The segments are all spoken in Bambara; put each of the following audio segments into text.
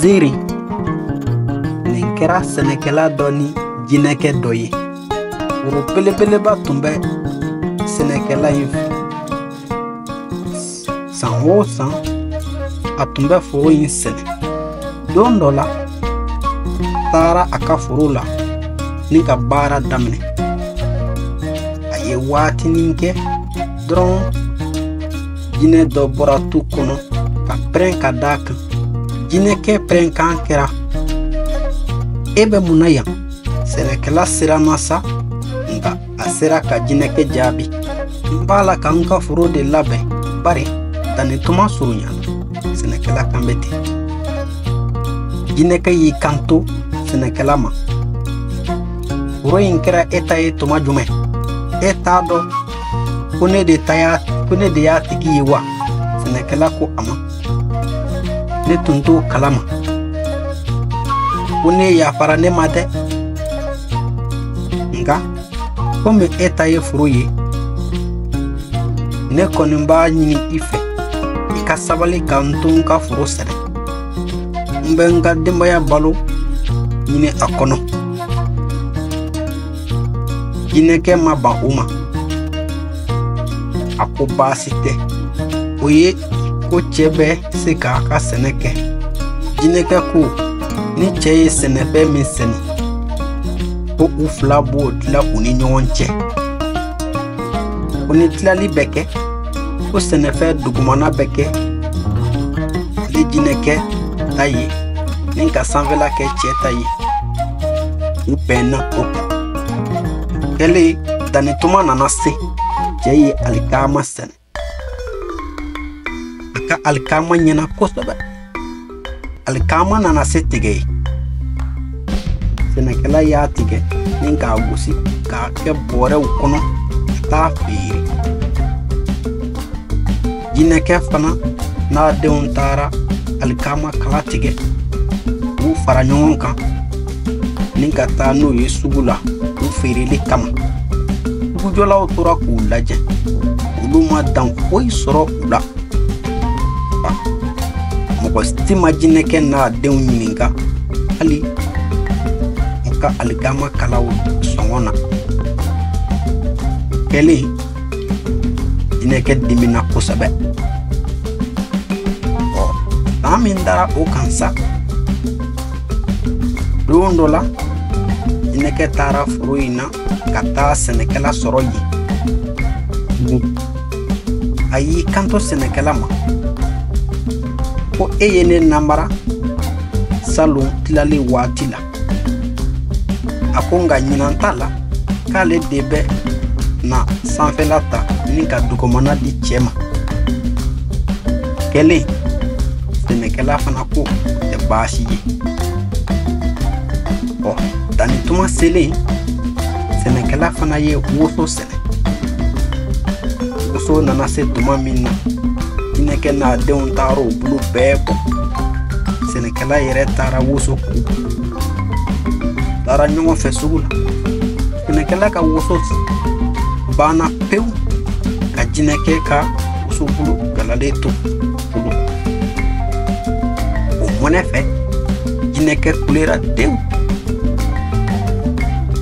Ziri nin kɛra sɛnɛkɛla dɔ ni jinɛkɛ dɔ ye foro belebeleba tun bɛ sɛnɛkɛla in fɛ san o san a tun bɛ foro in sɛnɛ don dɔ la a taara a ka foro la ni ka baara daminɛ a ye waatinin kɛ dɔrɔn jinɛ dɔ bɔra tu kɔnɔ ka pɛrɛn ka d'a kan jinɛkɛ pɛrɛnkan kɛra e bɛ mun na yan sɛnɛkɛla siranna sa nka a sera ka jinɛkɛ jaabi n b'a la ka n ka foro de labɛn bari danni tuma surunyana sɛnɛkɛla kan bɛ ten jinɛkɛ y'i kanto sɛnɛkɛla ma foro in kɛra e ta ye tuma jumɛn e t'a dɔn ko ne de ta y'a ko ne de y'a tigi ye wa sɛnɛkɛla ko a ma ne tun t'o kalama ko n'e yafara ne ma dɛ nka komi e ta ye foro ye ne kɔni b'a ɲini i fɛ i ka sabali ka n to n ka foro sɛnɛ n bɛ n ka denbaya balo ɲini a kɔnɔ jinɛkɛ ma ban o ma a ko baasi tɛ o ye ko cɛ bɛ se k'a ka sɛnɛ kɛ jinɛkɛ ko ni cɛ ye sɛnɛfɛn min sɛnɛ ko u fila b'o tila u ni ɲɔgɔn cɛ ko ni tilali bɛ kɛ ko sɛnɛfɛn dugumana bɛ kɛ ale jinɛkɛ ta ye ni ka sanfɛla kɛ cɛ ta ye u bɛnna o kan o kɛlen danni tuma nana se cɛ ye alikaama sɛnɛ a ka alikaama ɲɛna kosɛbɛ alikaama nana se tigɛ ye sɛnɛkɛla y'a tigɛ ni k'a gosi k'a kɛ bɔrɛw kɔnɔ ka t'a feere jinɛkɛ fana n'a denw taara alikaama kala tigɛ k'u fara ɲɔgɔn kan ni ka taa n'u ye sugu la u feereli kama sugujɔlaw tora k'u lajɛ olu ma dan foyi sɔrɔ u la mɔgɔ si ma jinɛkɛ n'a denw ɲininka hali u ka alikaama kalaw sɔngɔ na o kɛlen jinɛkɛ dimina kosɛbɛ san min dara o kan sa don dɔ la jinɛkɛ taara foro in na ka taa sɛnɛkɛla sɔrɔ yen tugun a y'i kanto sɛnɛkɛla ma ko e ye ne namara salon tilali waati la a ko nka ɲinan ta la k'ale de bɛ na sanfɛla ta ni ka dugumana di cɛ ma kɛlen sɛnɛkɛla fana k'o tɛ baasi ye ɔ danni tuma selen sɛnɛkɛla fana ye woso sɛnɛ woso nana se tuma min na jinɛkɛ n'a denw taara o bulu bɛɛ bɔ sɛnɛkɛla yɛrɛ taara woso ku taara ɲɔgɔn fɛ sugu la sɛnɛkɛla ka woso banna pewu ka jinɛkɛ ka wosobulu galalen to o mɔnɛ fɛ jinɛkɛ kulera den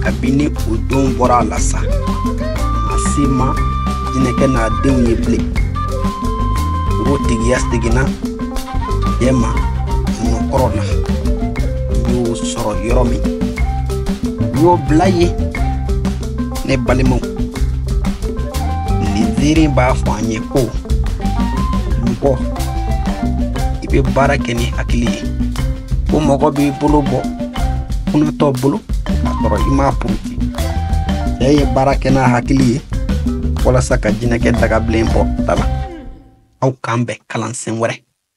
kabini o don bɔra a la sa maa si ma jinɛkɛ n'a denw ye bilen o tigiya seginna cɛ ma nɔkɔrɔ la n y'o sɔrɔ yɔrɔ min n y'o bila yen ne balimaw nin ziiri in b'a fɔ an ye ko mɔgɔ i bɛ baara kɛ ni hakili ye ko mɔgɔ b'i bolo bɔ kunatɔ bolo k'a sɔrɔ i m'a puruti cɛ ye baara kɛ n'a hakili ye walasa ka jinɛkɛ dagabilen bɔ da la aw k'an bɛn kalansen wɛrɛ